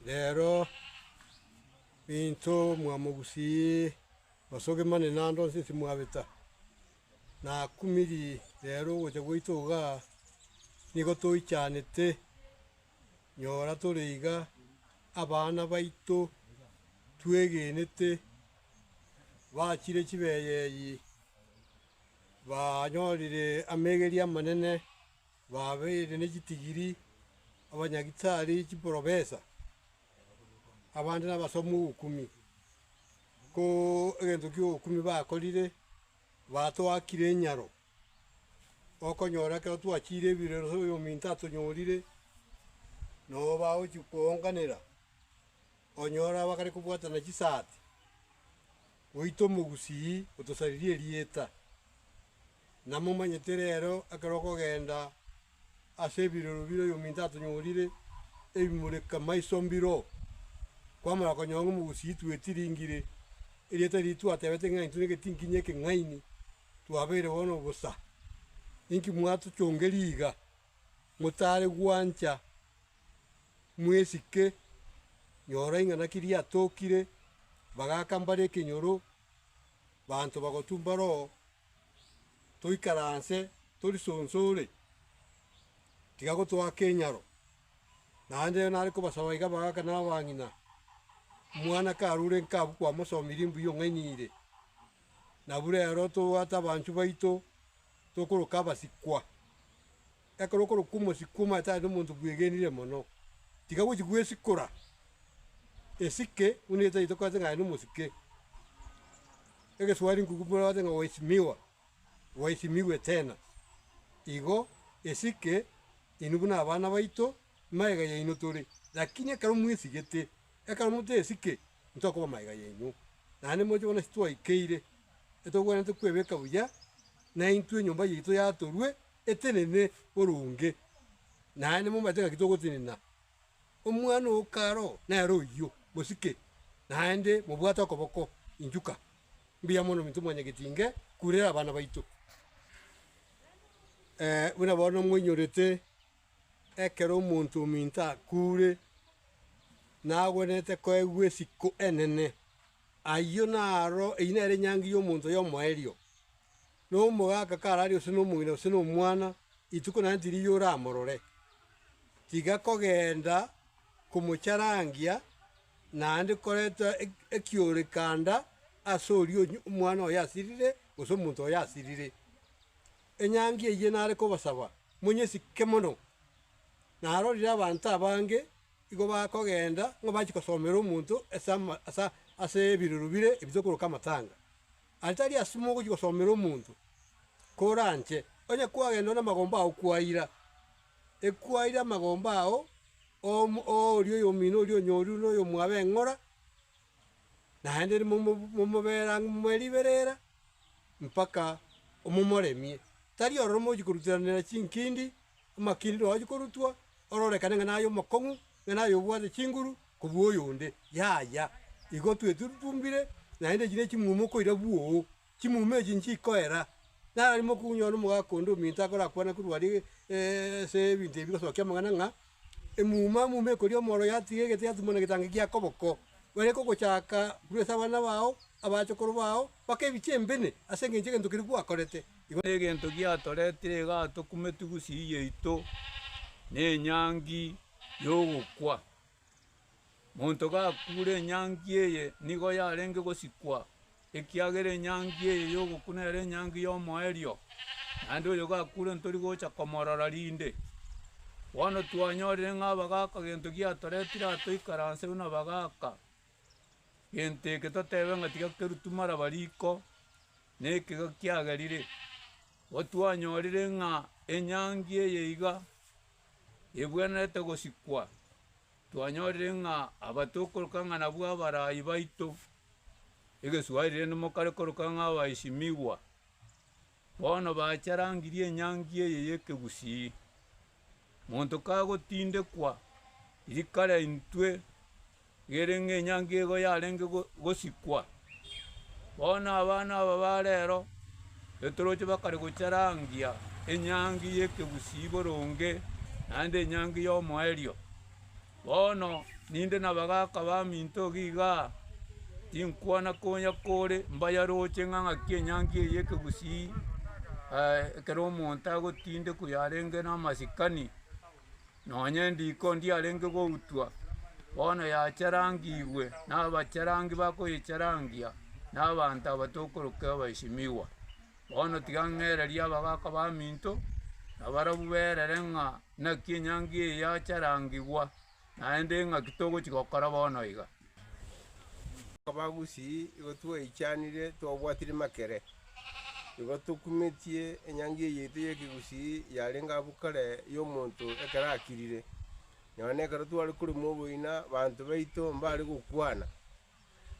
rero intwe mwamogusii osoge mane naende onsi timwabeta, nakumirie rero ogocha gwaito igaa nigo toichanete, nyora tore iga abana baito twegenete bachire chibeyeyi. banyorire amegeria amanene, babeire ne chitigiri, abanyagitari, chiprofesa, abande nabasomi b'okuumi. Ko egento ki'okuumi bakorire, batoakire enyaro, okonyora ekero twachiire ebirori gose oyo ominto atonyorire, nabo bagochia koonganera, onyora bakare kobwatana chisaati. Goita omogusii otosaririe erieta. Namomanyete reero ekero okogenda ase ebirero bire oyominto atonyorire ebimureka maiso mbiro. Kwamara konyora ng'a omogusii twetiringire, erieta riria twatebete ng'a intwe negetinkinya ekeng'aini, twabeire bono bosa. Inki mwatochongerie iga, motare gwancha? Mwesike, nyora ing'ana ki riatokire, bagaaka mbare ekenyoro, baanto bagotumba roho, toikaranse tori sonsore, tiga gotoa kenyaro. Naende ere nare kobasaba iga bagaaka na abang'ina, omwana karure nka abwo kwamosomirie mbuya ong'ainire. Nabu rero tobwate abanchwa baito, tokoroka abasikwa. Ekero okorokwa omosii kw'amache aya nomonto bwegenire mono, tiga gochia gwesikora esike buna etaito okwanse ng'a aye nomosike. Egeswari nkuku buna okwanse ng'a waheshimiwa, waheshimiwe tena. Igo esike inwe buna abana baito magega yaino tore, lakini ekero mwesigete, ekero mote esike ntokoba magega yaino. Naende moche bono ase twaikeire, etogwenerete kwebeka buya, naintwe enyomba yaito yatorwe. eterebe boronge, naye nimomanyete ng'aki togotenena. Omwana o karo nere oyio, mosike, naende mobwate okoboko inchuka. Mbuya mono ominto mwane getinge kurera abana baito. Ee, buna bono moinyorete, ekero omonto ominto akure, nagwenerete koegwa esiko enene. Ayio naro, eyio nere enyangi y'omonto oyomo erio. Nomogaka karare gose nomong'ina gose nomwana, rituko naende tiriiyo oramorore, tiga kogenda komocharangia naende koreta ekioorekanda ase oria omwana oye asirire gose omonto oye asirire. Enyangi eyio nare kobasaba monyesike mono. Narorire abanto abange igo bakogenda ng'a bachia gosomera omonto ase ase ebirero bire ebio tokoroka amatanga. Atari asimo ogochia gosomera omonto, koranche, onye kwagenda ore namagomba ao kwaira, ekwaire amagomba ao oria oyomino oria onyoru na oyomwabo eng'ora, naende momobere ang'e momorere riberera mpaka omomoremie. Tari ororo mochi koruteranera chinkindi, amakindi naro ochia korutwa. ororekane ng'a naye omokong'u, ng'a naye obwate chinguru kobua oyonde. Yaya, igo twetutumbire, naende echi nechimuma okoira bwoo, chimuma echi nchikoera. Nararimo okonyora nomogaka onde ominto akorakwane korwa aria ase ebinto ebi bigosokia amang'ana ng'a, emuma muma ekoria omoro yatiga egete yatumana egetangi gia koboko, bare kogochaka korwa ase abana bao, abachokoro bao, baka ebichie embene ase engencho egento keria gwakorete. Igo negento giatoretire iga atokumetwe gusii yaito nenyangi yogokwa. Monto gakure enyangi eye nigo yarenge gosikwa, ekiagera enyangi eye yogokwa nere enyangi yomoerio, naende oyo gakure ntori gocha komorora rinde. Bono twanyorire ng'a abagaaka gento giatoretire aa toikaranseu nabagaaka. Gento eke totebe ng'a tiga kerutu maraba riko. Nekiga kiagerire, gotwanyorire ng'a enyangi eye iga ebwenerete gosikwa, twanyorire ng'a aba tokoroka ng'a nabwo abarai baito, egeswahiri rende mokare koroka ng'a abaheshimiwa, bono bacharangirie enyangi eye y'ekegusii. Monto kagotindekwa rika riaintwe ri'ere ng'a enyangi ego yarenge gosikwa, bono abana aba ba rero etoroche bakare gocharangia enyangi y'ekegusii boronge, naende enyangi y'omoerio. Bono ninde nabagaaka baminto iga, tinkwana konya kore mbayaroche ng'a ng'aki enyangi eye ekegusii ekero omonto agotindekwa yarenge namasikani, nonye endiko ndiyarenge goutwa, bono yacharangigwe nabacharangi bakoyecharangia na abanto aba tokoroka abaesimigwa. Bono tiga ng'ereria abagaaka baminto, nabarabwo berere ng'a. Naki enyangi eye yacharangigwa, naende ng'aki togochia gokora bono iga? Koba gusii igo twaichanire twabwatire makere, igo tokumetie enyangi eye yaito y'ekegusii yarenge abwo kare y'omonto ekero akirire. Nonya nekero tware korema oboina, banto baito mbare gokwana.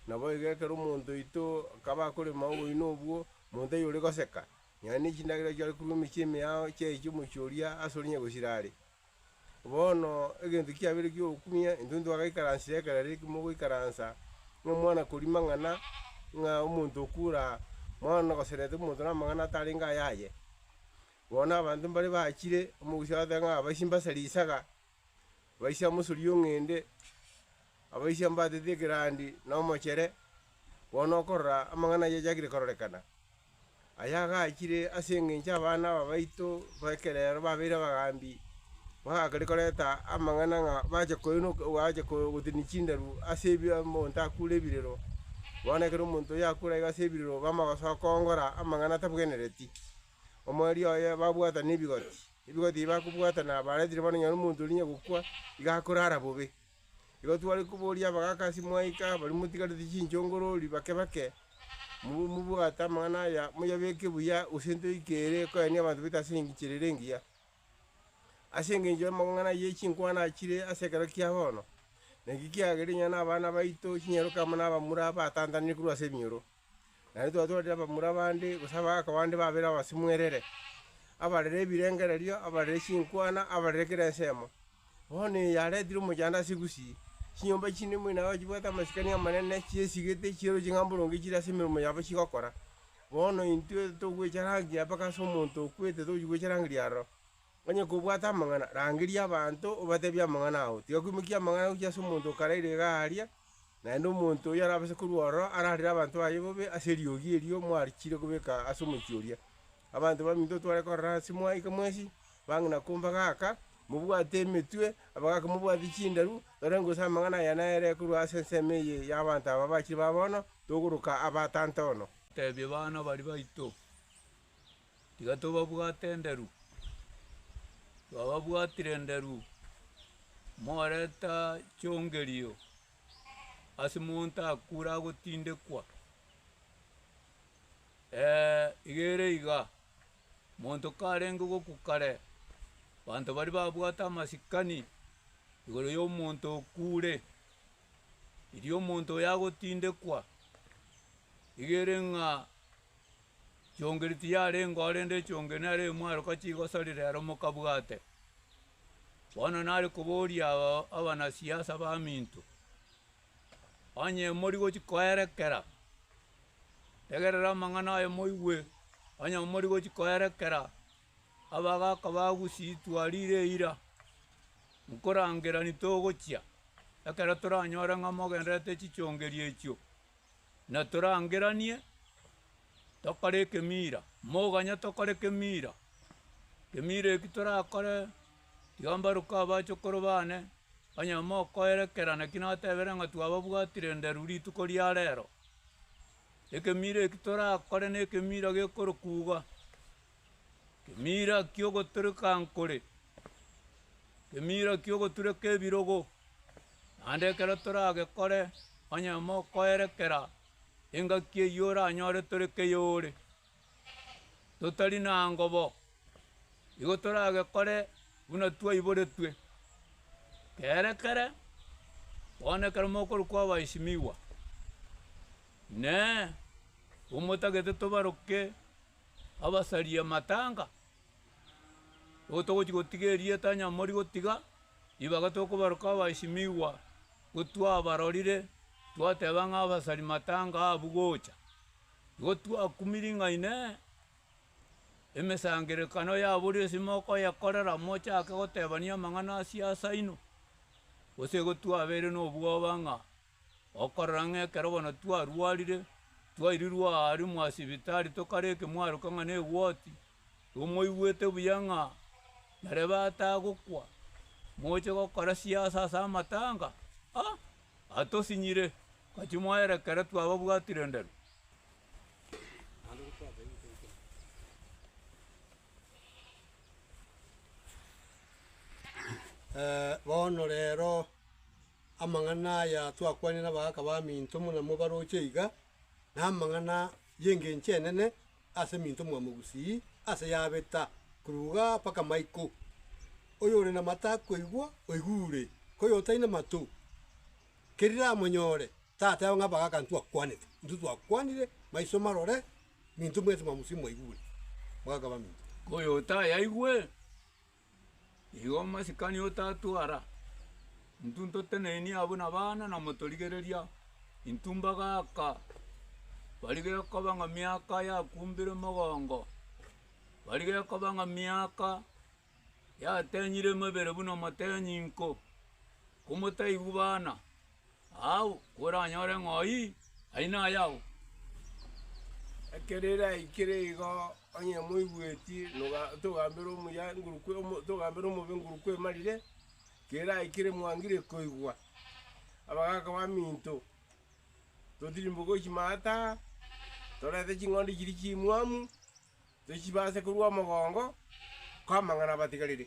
Naboigo ekero omonto oito akaba akorema oboina obwo, omonto oyio ore goseka, Nonya ne chindagera chi'ore korwa emechie emeao chiaechia omochie oria ase ore nyagosira are. Bono egento kiabeire ki'ogokumia, intwe ntitwagaikaransire ekero ere mogoikaransa, ng'a omwana koria mang'ana, ng'a omonto okura mwana nogoserete omonto namang'ana atarenge ayaye. Bono abanto mbare bachire, omogusi agateba ng'a aba ase mbasa risaga. Baise amosori y'ong'ende, abaise mbatete ekerandi na omochere, bono okorora amang'ana ayio achakire kororekana, aya agachire ase engencho abana aba baito b'ekerero babeire abagaambi, bagakare koreta amang'ana ng'a bache koenok bache ko- gotenenia chindaru ase ebi omonto akure ebirero. Bono ekero omonto oyio akure iga ase ebirero, bamagosoa koongora amang'ana atabwenereti, omoerio oye babwatana ebigoti. Ebigo tibakobwata na abaretire bono nonye omonto oria onye gokwa, iga akorara bobe. Igo tware koboria abagaka ase mwaika, baria motigarete chinchongorori bake bake, mo- mobwate amang'ana aya, moyabeke buya, gose ntoike ere koyania abanto baito ase engichera ere engiya. Ase engencho y'amang'ana ye chinkwana achire ase ekero kia bono, na ekio kiagere onye na abana baito chinyeroke amo na abamura batantanire korwa ase ebinyoro. Naende twatwarire abamura abande, gose abagaaka abande babere abasibwa erere, abarere ebirengererio, abarere chinkwana, abarere kera ensemo. Bono eye yaretire omochando ase egusii, chinyomba chinde moino aye ochibwate amasikani amanene, chiesigete, chiero chingamboronge chire ase emeromo yabo chigokora. Bono intwe togwecharagia mpaka ase omonto okwete tochi gwecharangeria aroro. Onye kobwata amang'ana, rangeria abanto, obatebie amang'ana ao. Tiga kwimokia amang'ana gochia ase omonto okaraire iga aaria, naende omonto oyio arabase korua ororo ararire abanto baye bobe ase eriogi erio mwarichiire kobeka ase omochie oria. Abanto baminto otware korora ase mwaika mwensi, bang'ina komba gaka, mobwate emetwe, abagaaka mobwate chindaru, torenge gose amang'ana aya nere korwa ase ensemo eye y'abanto aba bachire ba bono, togoroka aba tanta ono. Tebia bana baria baito, Tiga tobabwate enderu, twababwatire enderu, moreta chiongerio ase monto akure agotindekwa, iga ere iga, monto karenge gokwa kare, abanto baria babwate amasikani igoro ya omonto okure, erio omonto oyo agotindekwa, iga ere ng'a. Chiongi tiyarengeo, rende echiongi nere imwaroka chigosari rero mokabwate. Bono nare koboria aba abanasiasa baminto, Onye mori gochia koerekera, tegerera amang'ana aya moigwe, onye mori gochia koerekera abagaaka ba Gusii twarire eira, nkorangerani togochia, ekero toranyore ng'a mogendererete chichiongerio echio. na torangeranie tokore ekemiira, moganya tokore kemiira, kemiira eki torakore tiga mbaruke abachokoro bane, onye mokoerekera naki natebire ng'a twababwatire nderu rituko ria rero. Ekemiira eki torakore nekemiira gekorokuga. Kemira ki'ogotoreka nkore, kemira ki'ogotureka ebirogo, naende ekero toragekore onye mokoerekera engaki eyio oranyore tore keyore, totari na ngobo, igo toragekore buna twaiboretwe. Keerekere bono ekero mokorokwa abaisimigwa, Inee! Omotagete tobaroke abasarie amatanga, nigo togochia gotiga erieta onye mori gotiga ribaga tokobaroka abaesimigwa gotwabarorire twateba ng'a abasari matanga abwo gocha. Nigo twakumire ng'a inee emesangerekano yabo ri'ense mokoyekorera mochake gotebania amang'ana a siasa inwe? Gose igo twabeire nobwoba ng'a. Okorora ng'a ekero bono twarwarire, twairirwe aa aria mwasibitari tokare ekemwaroka ng'a negwoti, tomoigwete buya ng'a nyarebe atagokwa, moche gokora siasa ase amatanga? Ah! Atosinyire, gachimoerekera twababwatire ndere. Bono rero, Amang'ana aya twakwanire abagaaka baminto buna mobaroche iga, namang'ana y'engencho enene ase minto mwa mogusii ase yabeta korwa iga mpaka maiko. Oyore namato akoigwa, oigure, koyotaina amato, kerire amonyore, tateba ng'a abagaaka ntwakwanete. Intwe twakwanire maiso marore minto mwensi mwa mogusii mwaigure, abagaaka baminto. Koyotayaigwe, Igo omosikani otatwara intwe ntotenenie abwo nabana na motorigereria intwe mbagaaka bari gekoba ng'a miaka yakumbire mogongo bari gekoba ng'a miaka yatenyire emebere buna motenyi nko komotaigwa bana. Agwo kweranyore ng'ai aino aye agwo. Ekero eraikire igo, onye moigweti, togambere omuya ngurukwa, togambere omobe ngurukwa emarire, ekero eraikire mwangire koigwa, abagaka baminto, totirimboke gochia maata, torente ching'ondi chiria chimwamu, tochibase korwa omogongo, ko amang'ana abatigarire.